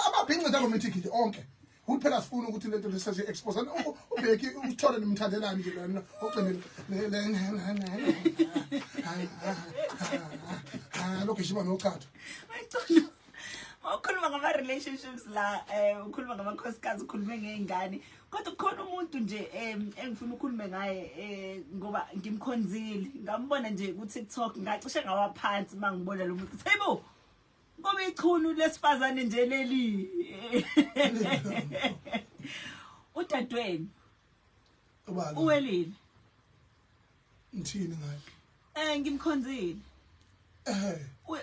amabhincida komithikili onke ukuthi phela sifuna ukuthi lento lesazi expose ubheki usithole nimthandelani nje lona ogcinile lo gijima nochatho ukhuluma ngama relationships la eh ukhuluma ngama khosikazi ukhulume ngeingane kodwa kukhona umuntu nje engifuna ukukhulume ngaye eh, ngoba ngimkhonzile ngambona nje ku TikTok ngacishe ngawaphansi mangibona lo muntu hey bo Ngoba ichunu lesifazane nje leli. Udadweni. Ubani? Uwelile. Ngithini ngaye? Eh ngimkhonzile. Eh.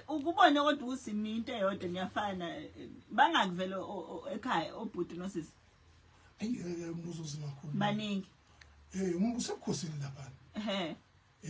Ukubone kodwa usimi into eyodwa niyafana bangakuvela ekhaya obhuti nosisi. Ayike umbuzo uzima khona. Baningi. Eh umbuzo ebukhosini lapha. Eh.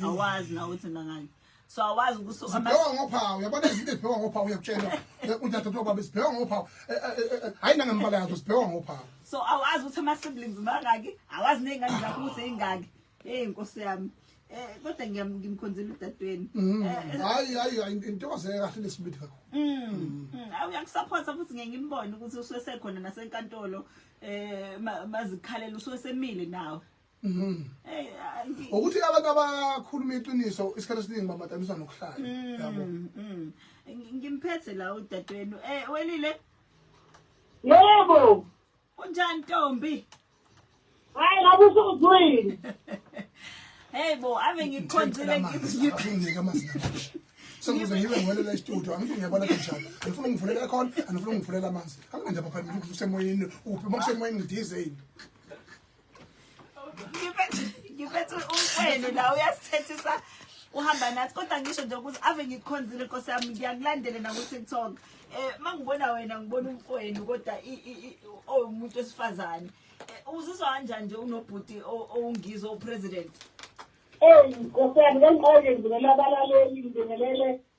awazi nawe ukuthi nangani so awazi ukuthi sibhewa ngophawu yabona izinto ezibhewa ngophawu uyakutshelwa eh, udadewethu wobaba sibhewa ngophawu eh, eh, hhayi nangembala yazo sibhewa ngophawu so awazi ukuthi ama-siblings mangaki awazi ney'ngane zakho ukuthi ey'ngaki eyi nkosi yami um kodwa ngimkhonzile udadweni mm. hayi hayi hayi intokozo kahle lesibili kakhulu mm, mm. uyakusaphotha futhi ngeke ngimbone ukuthi usuwesekhona nasenkantolo um mazikhalela usuwesemile nawe Mhm. Hey, hayi. ukuthi abantu abakhuluma iqiniso isikhathi esiningi bamadaniswa nokuhlala yabo Mm, mm. Ngi- Ngimphethe la udadewenu. Eh welile Yebo. kunjani ntombi? Hayi ngabe usuzwile. Hey bo ave ngikhonzile ngiziphi. sengize ngibe ngiwelela istudio angithi ngiyabona kanjani andifuna ungivulela khona andifuna ungivulela amanzi anginandaba phambili ukuthi usemoyeni uphi uma kusemoyeni ngidizeni ngiphethe umfweni la uyasithethisa uhamba nathi kodwa ngisho nje ukuthi ave ngikhonzile nkosi yami ngiyakulandele naku-tiktok um eh, ma ngibona wena ngibona umfweni kodwa owumuntu wesifazane eh, uzizwa kanjani nje unobhuti owungizwe upresident eyi nkosi yami kangiqoke ngibelela abalaleli ngibingelele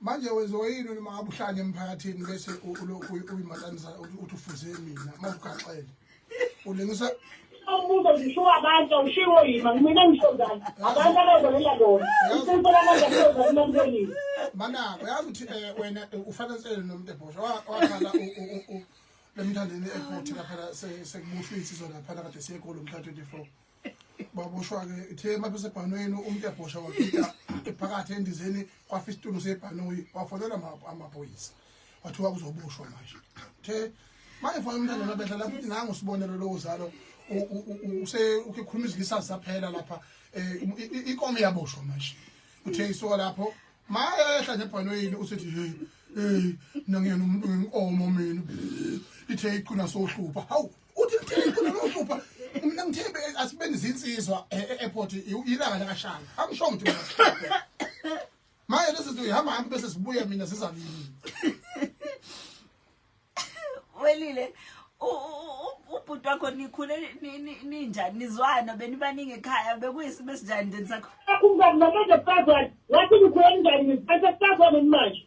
manje wenziwa yini noma ngabe uhlale emphakathini bese ulokhu uyimatanisa uthi ufuze mina uma ugaxele ulengisa umbuzo ngisho abantu awushiwo yima mina ngisho njani abantu abazolela lona isinto lamanje kuyoza kumamkelile manako yazi ukuthi eh, wena eh, ufanele nomuntu ebhosha wakhala lemthandeni ephothe lapha sekubushwa insizwa lapha kade siye golo mhla 24 baboshwa ke ithe uma besebhanweni umuntu ebhosha wakhipha ephakathi endizeni kwafa isitulo sebhanoyi wafonela amaphoyisa wathiwa kuzoboshwa manje uthe manje fana umntana nabehla lapho ukuthi nangu sibonelo lowo zalo use ukhuluma izilisa zaphela lapha eh, inkomo yaboshwa manje uthe isoka lapho mayehla nebhanoyini usithi hey hey nangiyena umuntu wenkomo mina ithe iqina sohlupha hawu uthi mthembe khona lokuphupha mina ngithembe asibeni zinsizwa e- e- airport ilanga lakashanga angisho ukuthi mina sihluphe. manje lezi zinto ihamba hamba bese sibuye mina sizalini welile u- u- u- ubhuti wakho nikhule ni- ni- ninjani nizwana benibaningi ekhaya bekuyisimo esinjani then sakho Akungani manje sazwana. Wathi ngikhona njani ngisiphatha sazwana manje.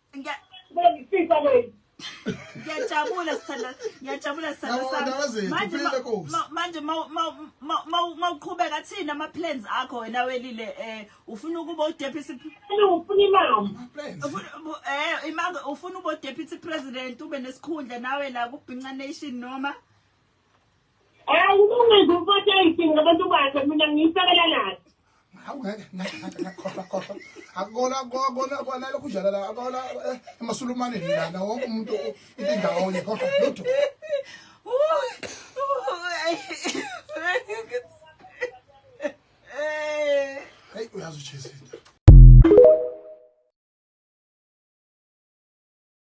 Ngiyafisa kwenu. Ngiyajabula sithanda ngiyajabula sithanda sami. Manje manje mawuqhubeka thina ama plans akho wena welile eh ufuna ukuba u deputy ufuna imali. Eh imali ufuna ubo deputy president ube nesikhundla nawe la ku Binca Nation noma Awulungise umfati ayisini ngabantu bakhe mina ngiyisekela naye. Hawu ngeke ngeke ngakhola khola. Akona akona akona lokhu njalo la akona eh, emasulumane lana wonke umuntu into indawo nje kodwa lutho. Hey uyazi uJesu.